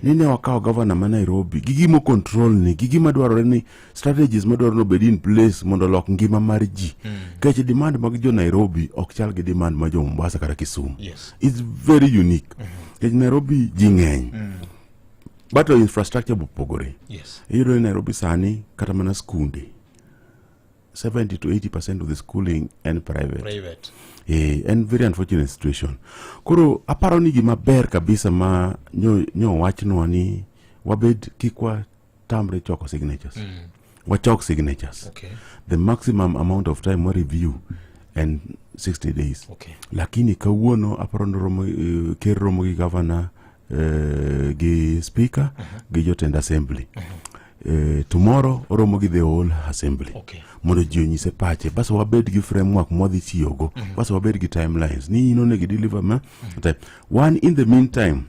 ni ne wakawo gavana ma Nairobi gi gimo control ni gi gima dwarore ni strategies ma dwarore obed in place mondo olok ngima mar ji mm. kech demand mag jo Nairobi ok chal gi demand ma jo Mombasa kata Kisumu yes. it's very unique mm -hmm. kech Nairobi ji ng'eny mm. but infrastructure bopogore yes. iyudo ni Nairobi sani kata mana skunde 70 to 80 percent of the schooling en private, private. Eh, en very unfortunate situation koro aparo ni gima ber kabisa ma nyo, nyo wachnwa ni wabed kik watamre choko signatures mm. wachok signatures okay. the maximum amount of time wa review and 60 days okay. lakini kawuono aparo ni romo, uh, ker romo gi governor eh, gi speaker gi jotend assembly Eh, tomorrow oromo gi the whole assembly Okay. mondo ji onyise pache bas wabed gi framework mwadhi tiyogo bas wabed gi timelines ni in onego deliver ma time. one in the meantime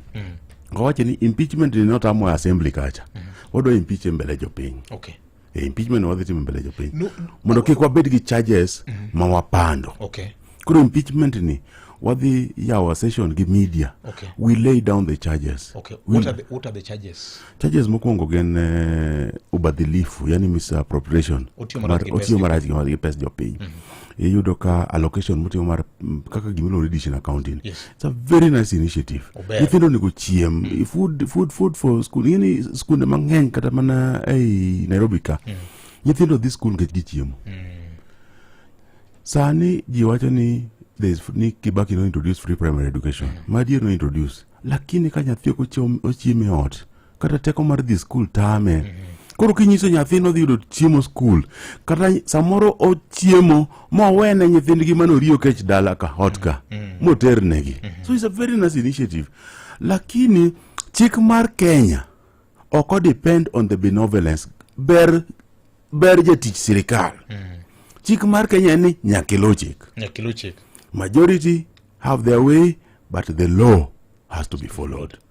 kawache ni impeachment ni notamwa assembly kacha wadwa impeach e mbele jopiny Okay. e impeachment wadhi timo mbele jopiny No- mondo kik wabed gi charges ma wapando okay koro impeachment ni wadhi yawo session gi media Okay. we lay down the charges okay We- what are the, what are the charges charges mokwongo gin eh, ubadhilifu yani misappropriation Otiyo marach gi pes otiyo jopiny. marach gi- gi pes jopiny iyudo ka allocation motiyo mar m, kaka gimiluongo ni dish in accounting Yes. It's a very nice initiative. Ober. Nyithindo onego chiem. Food, food, food for school. Ing'e ni skunde mang'eny kata mana ei Nairobi ka. Nyithindo dhi skul nikech gichiemo. Sani ji wacho ni there is, ni Kibaki no introduce free primary education. Madier no introduce. Lakini ka nyathi ok ochiem- ochiem e ot, kata teko mar dhi skul tame koro kinyiso nyathino dhi yudo chiemo skul kata samoro ochiemo mowene nyithindgi mane oriyo kech dala ka ot ka moternegi so it's a very nice initiative lakini chik mar kenya ok o depend on the benevolence ber ber jatich sirikal chik mar kenya en ni nyaka iluw chik nyakiluw chik majority have their way but the law has to be followed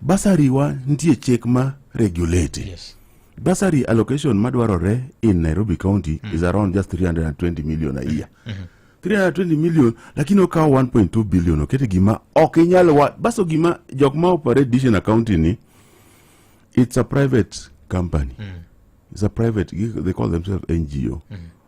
Basari wa nitie chik ma regulate. Yes. Basari allocation madwarore in Nairobi County mm. is around just 320 million a year. Mm -hmm. 320 million lakini okawo 1.2 billion okete gima ok inyal wa baso gima jok ma operate decision accounting ni it's a private company mm. it's a private they call themselves ngo mm.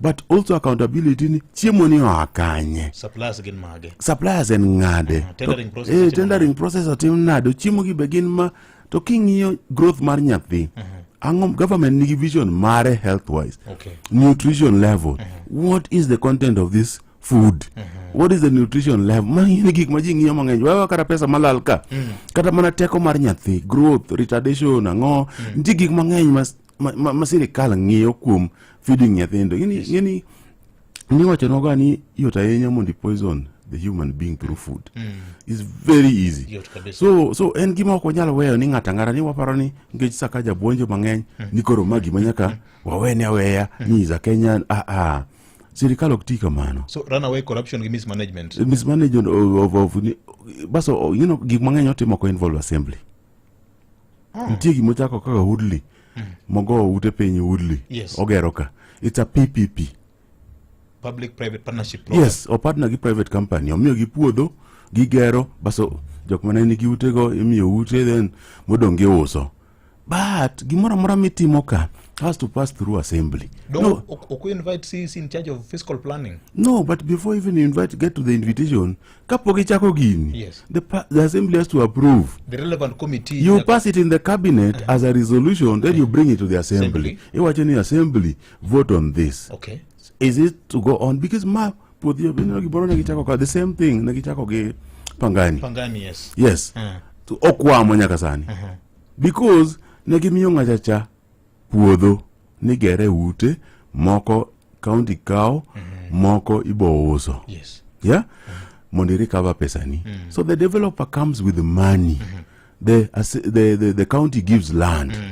but also accountability ni chiemo ni oa kanye suppliers gin mage suppliers en ngade uh, ah, tendering process eh tendering process atim nado chiemo gi be gin ma to king'iyo growth mar nyathi uh -huh. ang'o government nigi vision mare health wise okay. nutrition level uh -huh. what is the content of this food uh -huh. what is the nutrition level mang'ini gik ma ji ng'iyo mang'eny wewe kata pesa malal ka mm. kata mana teko mar nyathi growth retardation ang'o mm. nitie gik mang'eny ma ma, ma, ma sirikal ng'iyo kuom feeding nyithindo ng'eni yes. ng'eni niwachonwaga ni yot ahinya mondo poison the human being through food mm. is very easy so so en gima ok wanyal weyo ni ng'ato ang'ata ni waparo ni nikech saka jabuonjo mang'eny mm. ni koro ma gima nyaka mm. wawene aweya mm. ni is a kenyan ah, ah. sirikal ok ti kamano so run away corruption gi mismanagement mismanagement of, of, of, baso you know, gik mang'eny otimo ko involve assembly ah. nitie gima ochako kaka udli mm. mogo ute piny udli yes. ogero ka it's a ppp public private partnership program. yes opartner gi private company omiyo gi puodho gigero baso jok mane nigi utego imiyo ute then modong' giuso but gimoro amora mitimo ka has to pass through assembly. Don't, no, Oku invite CEC in charge of fiscal planning. No, but before even invite, get to the invitation, kapok ichako gini yes. the, the assembly has to approve the relevant committee you pass it in the cabinet uh -huh. as a resolution then uh -huh. you uh-huh. bring it to the assembly, assembly. iwacho ni assembly vote on this okay. is it to go on because ma puodhi obino gimoro ne gichako ka the same thing ne gichako gi pangani pangani yes yes uh -huh. to okwamo nyaka sani uh -huh. because ne gimiyo ng'achacha puodho nigere ute moko kaunti kawo mm-hmm. moko ibo uso yes. yeah? mondo irecover pesani mm. so the developer comes with money mm -hmm. the, the, the, the county gives land mm.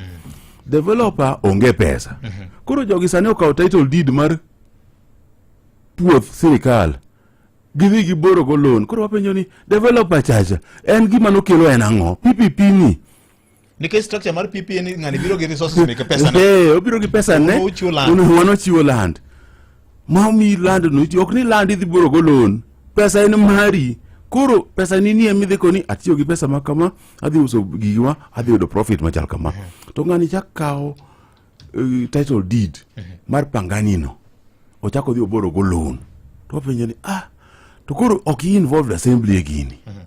developer onge pesa mm -hmm. koro jogi sani okawo title deed mar puoth sirikal gidhi giborogo loan koro wapenjo ni developer chacha en gima nokelo en ang'o ppp ni nikech structure mar PP en ng'ani biro gi resources meke pesa ne eh obiro gi pesa ne uno wano chiwo land ma mi land no ok ni land idhi buro go loan pesa en mari koro pesa ni nie midhi koni atiyo gi pesa ma kama adhi uso gigiwa adhi yudo profit machal kama to ng'ani chak kawo uh, title deed mar pangani no ochako odhi oboro go loan to wapenjo ni ah to koro ok i involved assembly e gini mm -hmm.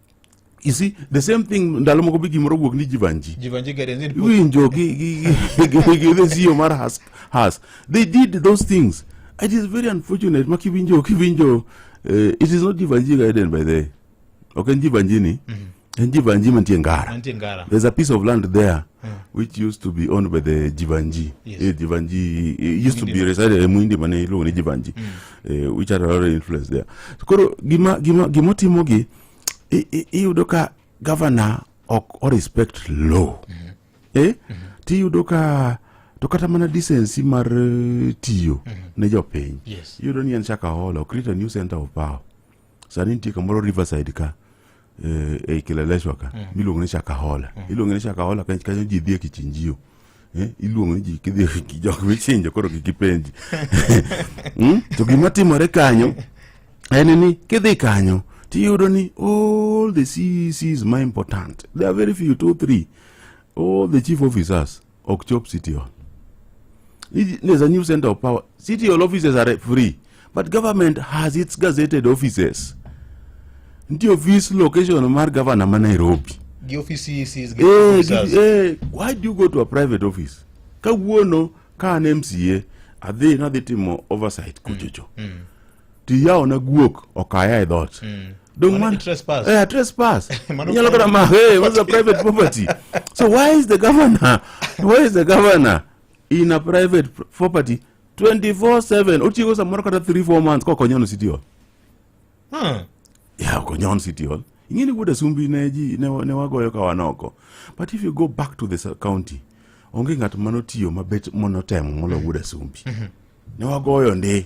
You see, the same thing ndalo moko be gimoro wuok ni jivanji jivanji gardens in winjo gi gi gi gi the CEO mar has has they did those things it is very unfortunate ma kiwinjo kiwinjo uh, it is not jivanji garden by the way ok en jivanji ni mm -hmm. en jivanji mantie ngara mantie ngara there's a piece of land there mm. which used to be owned by the jivanji yes. eh, jivanji eh, used Muindi to be resided eh, muindi mane iluongo ni jivanji mm. eh, which are already influenced there koro gima gima gima otimo gi i- i- iyudo ka governor ok o respect law eh tiyudo ka to kata mana decency mar eh, tiyo ne jopiny Yes. iyudo ni en shakahola okrita new center of power sani nitie kamoro riverside ka eh, eh, kileleshwa ka mm. miluongo ni shakahola mm. iluongo ni shakahola kanyo kanyo ji dhie kichinjio eh, iluongo ni ji kidhi kijok michinjo koro kikipenji mm? to gima timore kanyo en ni kidhi kanyo tiyudo ni all the CECs ma important there are very few two three all the chief officers ok chop city hall It- there's a new center of power city hall offices are free but government has its gazetted offices ntie office location mar governor ma nairobi gi ofisi isi gi Eh, officers. gi- eh, why do you go to a private office kawuono ka an mca adhi nadhi timo oversight kuchocho to iyawona guok okaya e dhot mm. Don't man, trespass. Yeah, trespass. You're not gonna marry. Hey, what's the private property? so why is the governor? Why is the governor in a private property 24/7? Otigo samoro kata 3 4 months ko konyono city hall. Hmm. Yeah, konyono city hall. Ingine kuda sumbi ne ji ne, ne wagoyo ka wanoko. But if you go back to the county, onge ng'at manotiyo mabet monotemo molo wuda sumbi. Mm -hmm. Ne wagoyo ndi.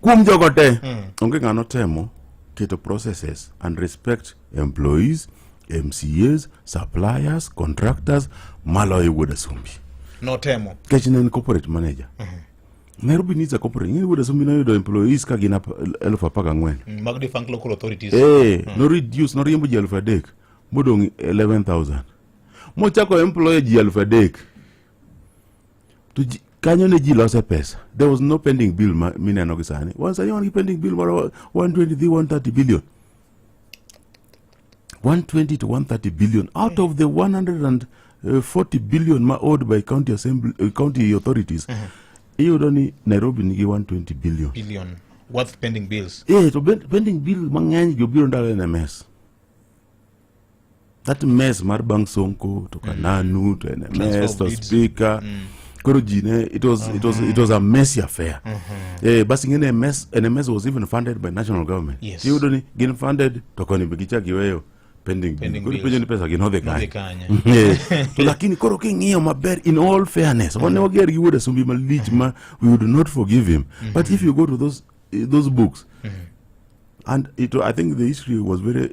Kuom jogo te, mm. onge ng'ano temo keto processes and respect employees, MCAs, suppliers, contractors maloyo e wuod Asumbi. Notemo. Kech ne en corporate manager. Mm -hmm. Nairobi needs a corporate. Ng'e wuod Asumbi noyudo employees ka gin elfu apar gang'wen. Mm, mag defunct local authorities. Eh, mm. no reduce, no riembo ji elfu adek. Modong' 11,000. Mochako employer ji elfu adek. To ji- kanyo ne ji lose pesa. There was no pending bill ma- mineno gi sani. Wan sani wan gi pending bill moro 123, 130 billion. 120 to 130 billion out of the 140 billion ma owed by county assembly uh, county authorities iyudo ni nairobi nigi 120 billion billion worth pending bills eh to ben- pending bill mang'eny gi obiro ndalo en ms that mess mar bang sonko to kananu mm. to nms to speaker mm. koro ji ne it was, mm -hmm. it was, it was a messy affair mm -hmm. eh, bas ing'e nms nms was even funded by national government yes. iyudo ni gin funded to koni be gichak iweyo pending koro penjo ni pesa gin odhi kanye eh, to lakini koro king'iyo maber in all fairness wane wager gi wuod asumbi malich ma we would not forgive him mm -hmm. but if you go to those, eh, those books mm -hmm. and it, i think the history was very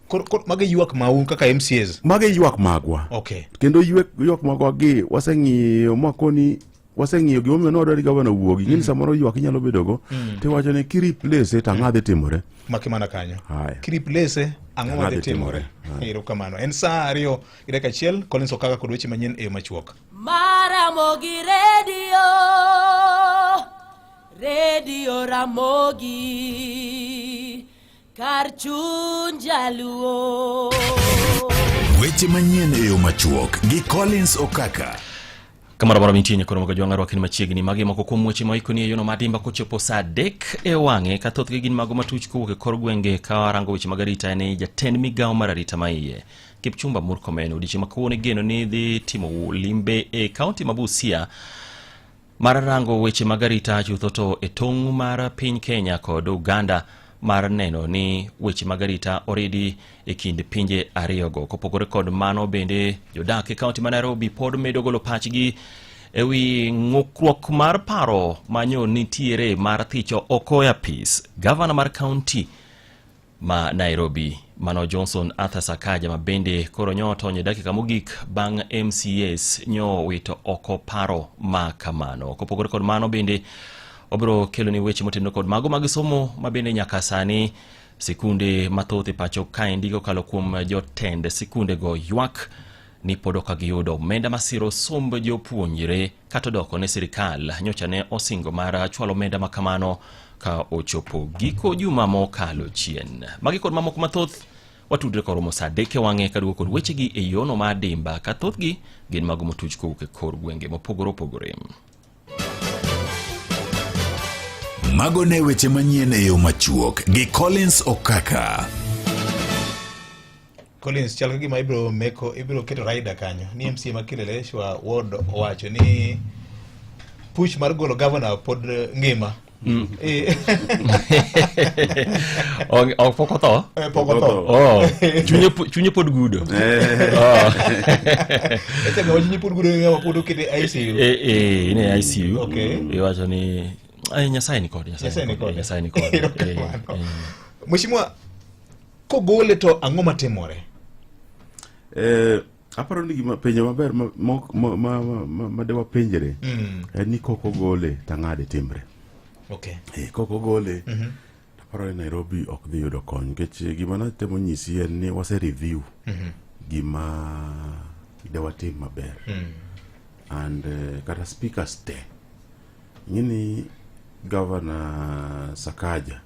Koro koro mago ywak mau kaka MCAs. Mago ywak magwa. Okay. Kendo ywak ywak magwa gi waseng'iyo makoni waseng'iyo gima omiyo nwadwa ni gavana wuogi ngini mm. samoro ywak inyalo bedogo mm. tiwacho ni kiriplace to ang'adhi timore maki mana kanyo kiriplace ang'o madhi timore ero kamano en saa ariyo gi dakika achiel collins okaka kod weche manyien e yo machuok maramogi redio redio ramogi Kar chuny jaluo. Weche manyien e yo machuok gi Collins Okaka. Kamara mara mintie nyakoro moga jwang'aro akin machiegni magi moko kuom weche ma ikoni e yono madimba kochopo saa adek e wang'e ka thothgi gin mago matuch kowuok e kor gwenge ka warango weche mag arita en jatend migawo mar arita ma iye Kipchumba Murkomen odiechieng' ma kawuono igeno ni dhi timo limbe e kaunti ma Busia mar rango weche mag arita chutho to e tong' mar piny kenya kod uganda mar neno ni weche mag arita oridi e kind pinje ariyogo kopogore kod mano bende jodak e kaunti ma nairobi pod medo golo pachgi e wi ng'ukruok mar paro manyo nitiere mar thicho oko e apis gavana mar kaunti ma Nairobi. Mano Johnson Arthur Sakaja ma bende koro nyo otony e dakika mogik bang' MCS nyo wito oko paro ma kamano. Kopogore kod mano bende obiro keloni weche motenore kod mago mag somo ma bende nyaka sani sikunde mathoth e pacho kaendi kokalo kuom jotend sikundego ywak ni pod ok giyudo omenda masiro somb jopuonjre Kata odoko ne sirikal nyocha ne osingo mar chwalo omenda ma kamano ka ochopo giko juma mokalo chien. Magi kod mamoko mathoth watudre koromo sa adek e wang'e kaduogo kod wechegi e yono ma adimba ka thothgi gin mago motuch kowuok e kor gwenge mopogore opogore. Mago ne weche manyien e yo machuok gi Collins Okaka. Collins chal gima ibiro meko ibiro keto rider kanyo ni MCA ma Kileleshwa ward owacho ni push mar golo governor pod ngima mm. eh. ok pok otho eh, pok otho oh. chunye pod gudo eh. oh. chunye pod gudo pod okete ICU eh ne ICU iwacho ni nyasaye ni kod nyasaye ni kod nyasaye ni kod Mheshimiwa Kogole to ang'o matimore? Eh, aparo ni gima penjo maber ma ma ma ma, ma, ma de wapenjre Mm. en ni kok ogole tang'ade timre. Okay. Eh, kok ogole Mhm. aparo ni Nairobi ok dhi yudo kony nikech gima natemo nyisi en ni wase review Mhm. gima de watim maber Mm. and eh, kata speakers te ing'e ni governor Sakaja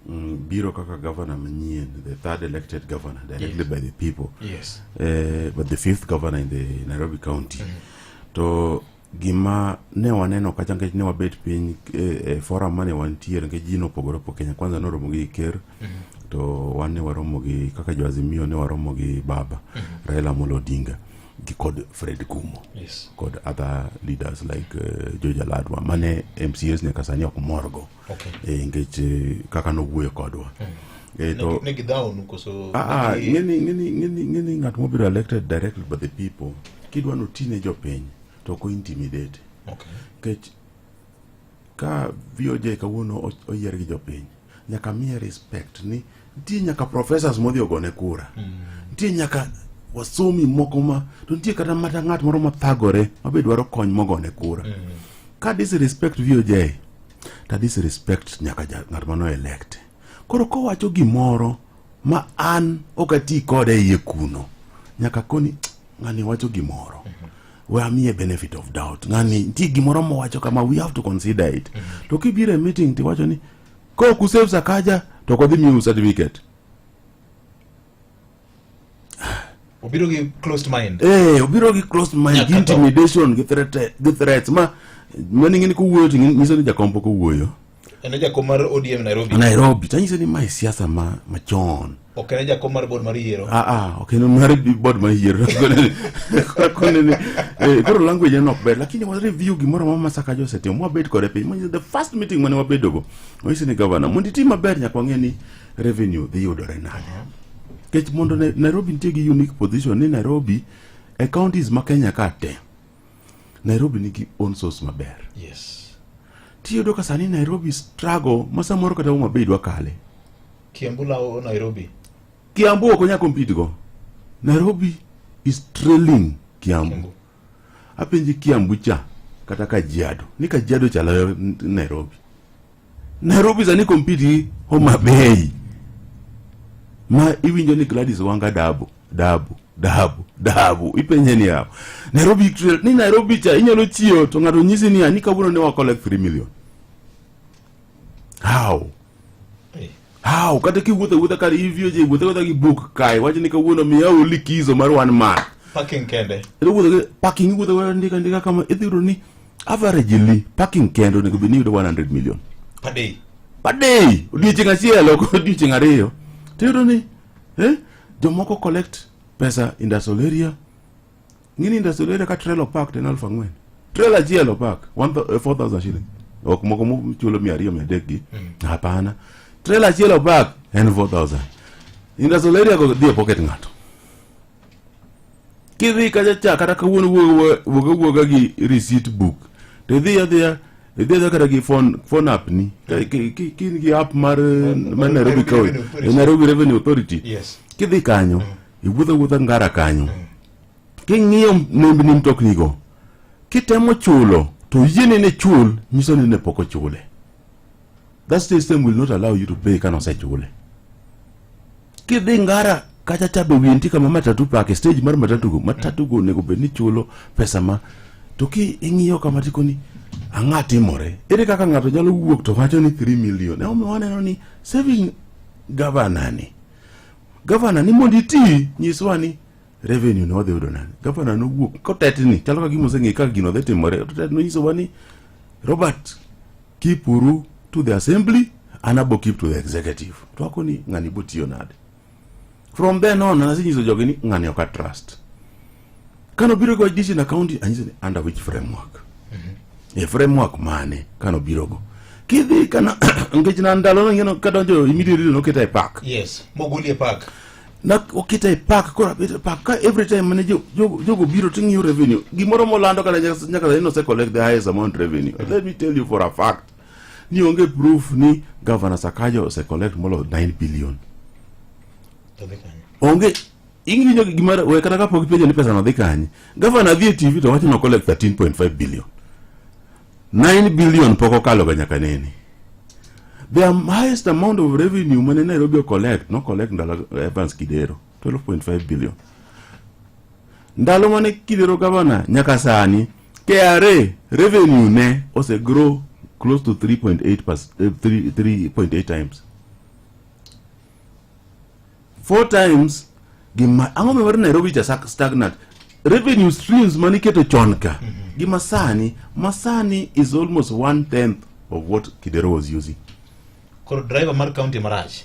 mm, biro kaka governor manyien the third elected governor directly yes. by the people yes. uh, but the fifth governor in the nairobi county mm -hmm. to gima ne waneno kacha nikech ne wabet piny e, e forum mane wantiere nikech ji nopogore opo kenya kwanza noromo gi ker mm -hmm. to wan ne waromo gi kaka joazimio ne waromo gi baba mm -hmm. raila molo odinga gi kod fred kumo yes. kod other leaders like uh, jojaladwa mane mcs nyaka sani ok morgo okay. e, nikech e, kaka nowuoyo kodwa mm. e, to, ne, ne koso, a, ah, a, ah, ngini, ngini, ngini, ngini ng'at mobiro elected directly by the people kidwa noti ne jopiny to ok ointimidate okay. nikech ka VOJ kawuono oyier gi jopiny nyaka miye respect ni Nitie nyaka professors modhi ogone kura. Mm. Nitie nyaka wasomi moko ma to nitie kata mata ng'at moro ma thagore ma be dwaro kony mogone kura. Mm. Ka disrespect VOJ ta disrespect nyaka ng'at mano elect. Koro kowacho gimoro ma an ok ati kode e iye kuno nyaka koni ng'ani wacho gimoro mm -hmm. we amiye benefit of doubt ng'ani nitie gimoro mowacho kama we have to consider it mm -hmm. to kibiro e meeting tiwacho ni ko kusave sakaja to kodhi miu certificate obiro gi closed mind eh obiro gi closed mind gi intimidation gi threat gi threats ma mani ngini kuwuoyo tingi nyiso ni jakombo kuwuoyo ene jakom mar ODM Nairobi Nairobi tanyiso ni mai siasa ma machon Ok en jakom mar bod mar yiero. Ah ah, ok en mar bod mar yiero. Konene. Eh, koro language en ok ber, lakini wa review gimoro ma Masaka Jose timo. Wabet kode piny. Manje the first meeting mane wabedo go. Wanyise ni governor, mondo itim maber nyaka wang'e ni revenue dhi yudore nade. Kech mondo Nairobi nitie gi unique position ni Nairobi e counties ma Kenya ka te. Nairobi nigi own source maber. Yes. Tiyudo ka sani Nairobi struggle ma samoro kata Homa Bay dwa kale. Kiambu lawo Nairobi. Kiambu ok onya compete go. Nairobi is trailing Kiambu. Kiambu. Apenji Kiambu cha kata Kajiado. Ni Kajiado chalo Nairobi. Nairobi sani compete gi Homa Bay ma iwinjo ni Gladys Wanga dabu dabu dabu dabu ipenje ni yawo Nairobi ni Nairobi cha inyalo chiyo to ng'ato nyisi ni ani kawuono ne wa collect 3 million how How kata kiwuotho wuotha kar ivio je wuotho wuotha gi book kae wacho ni kawuono miya oli kizo mar one man. Parking kende. Ero wuotho gi parking wuotho wuotha ndika ndika kama idhi yudo ni average li parking kende onego bed ni yudo 100 million. Per day. Per day. Odiochieng' achiel ok odiochieng' ariyo. Tiyudo ni eh jomoko collect pesa industrial area Ngini industrial area ka trailer park ten alf ang'wen. Trailer achiel opak 4000 eh, shillings. Ok moko muchulo 200 mia adek gi. Mm. Hapana. Trailer achiel opak en 4000. Industrial area go dhie pocket ng'ato. Kidhi kacha cha kata kawuono wuoga wuoga gi receipt book. Te dhia dhia idhiedha kata gi phone app ni kin gi app mar mar nairobi county nairobi revenue authority kidhi kanyo iwuotho wuotha ngara kanyo mm. King'iyo nembni mtoknigo, kitemo chulo to yiene ne chul nyiso ni ne pok ochule. That system will not allow you to pay kana osechule. Kidhi Ngara kacha cha be winti kama matatu park stage mar matatu go matatu go nego be ni chulo pesa ma to ki ing'iyo kama tiko ni ang'a timore ere kaka ng'ato nyalo wuok to wacho ni 3 million e omiyo waneno ni saving governor ni governor ni mondo iti nyiswa ni revenue ne wadhi yudo nade gavana nowuok kotetni chalo ka gima oseng'e kaka gino dhi timore otet nonyisowa ni robert keep uru to the assembly an abo keep to the executive to wako ni ng'ani botiyo nade from then on nasenyiso jogi ni ng'ani ok atrust kanobiro go district na county anyise ni under which framework e framework mane kanobirogo kidhi kana nikech na ndalono ing'eno kadonjo immediately noketa e park yes mogoli e park na okita e park kora bit e park ka every time mane jo- jogo jogo biro to ng'iyo revenue gimoro molando kata nyaka nyaka sani nose collect the highest amount revenue let me tell you for a fact ni onge proof ni governor sakaja ose collect molo 9 billion To dhi kanye? onge ing'inyo gima we kata kapok ipenjo ni pesa no dhi kanye governor dhi e tv to wacho ni o collect 13.5 billion 9 billion pok okaloga nyaka nene the highest amount of revenue mane nairobi ocollect no collect ndalo evans kidero 12.5 billion ndalo mane kidero gavana nyaka sani kra revenue ne ose grow close to 3.8 3.8 eh, times four times gima ang'o miwar nairobi cha sak- stagnant revenue streams mane iketo chon ka gi masani masani is almost one tenth of what kidero was using koro driver mar county marach